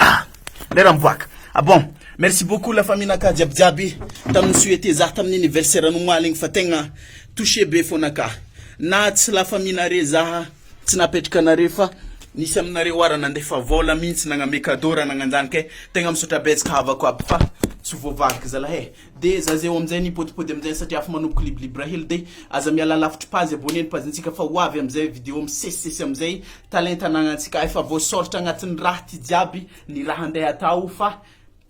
Ah! Ray Ramiboaka. Ah bon! Merci beaucoup la famille naka jiaby jiaby tam ni souhaiter za tam ny anniversaire anao omaly igny fa tegna toucher be fona ka. Na tsy la famille nare za tsy napetraka anare fa nisy aminareo oa ra nandefa vola mintsy nagname cadeau ra nagnanjany ke tegna misaotra betsaka havako aby fa tsy voavaliko zalah eh. De za zay amizay ni pôdipôdy amizay satria afa manomboka libribra hely de aza miala lavitry page abonné ny page ntsika fa ho avy amizay video misesisesy amizay. talenta ananantsika efa voasoritra agnatin'ny raha ty jiaby ny raha andeha atao fa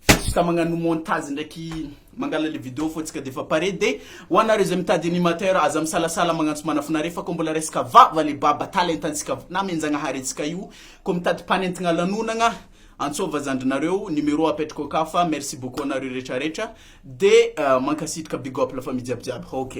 juste magnano montage ndraiky mangala le video fô tsika defa pare de ho anareo zay mitady animateur aza misalasala magnantso manafinareo fa kô mbola resaka vava le baba talentantsika namenjagnahary antsika io kô mitady mpanentigna lanonagna antsôva zandrinareo numéro apetrako aka fa merci beaucoup anareo retraretra de mankasitraka big up la famille jiaby jiaby ok.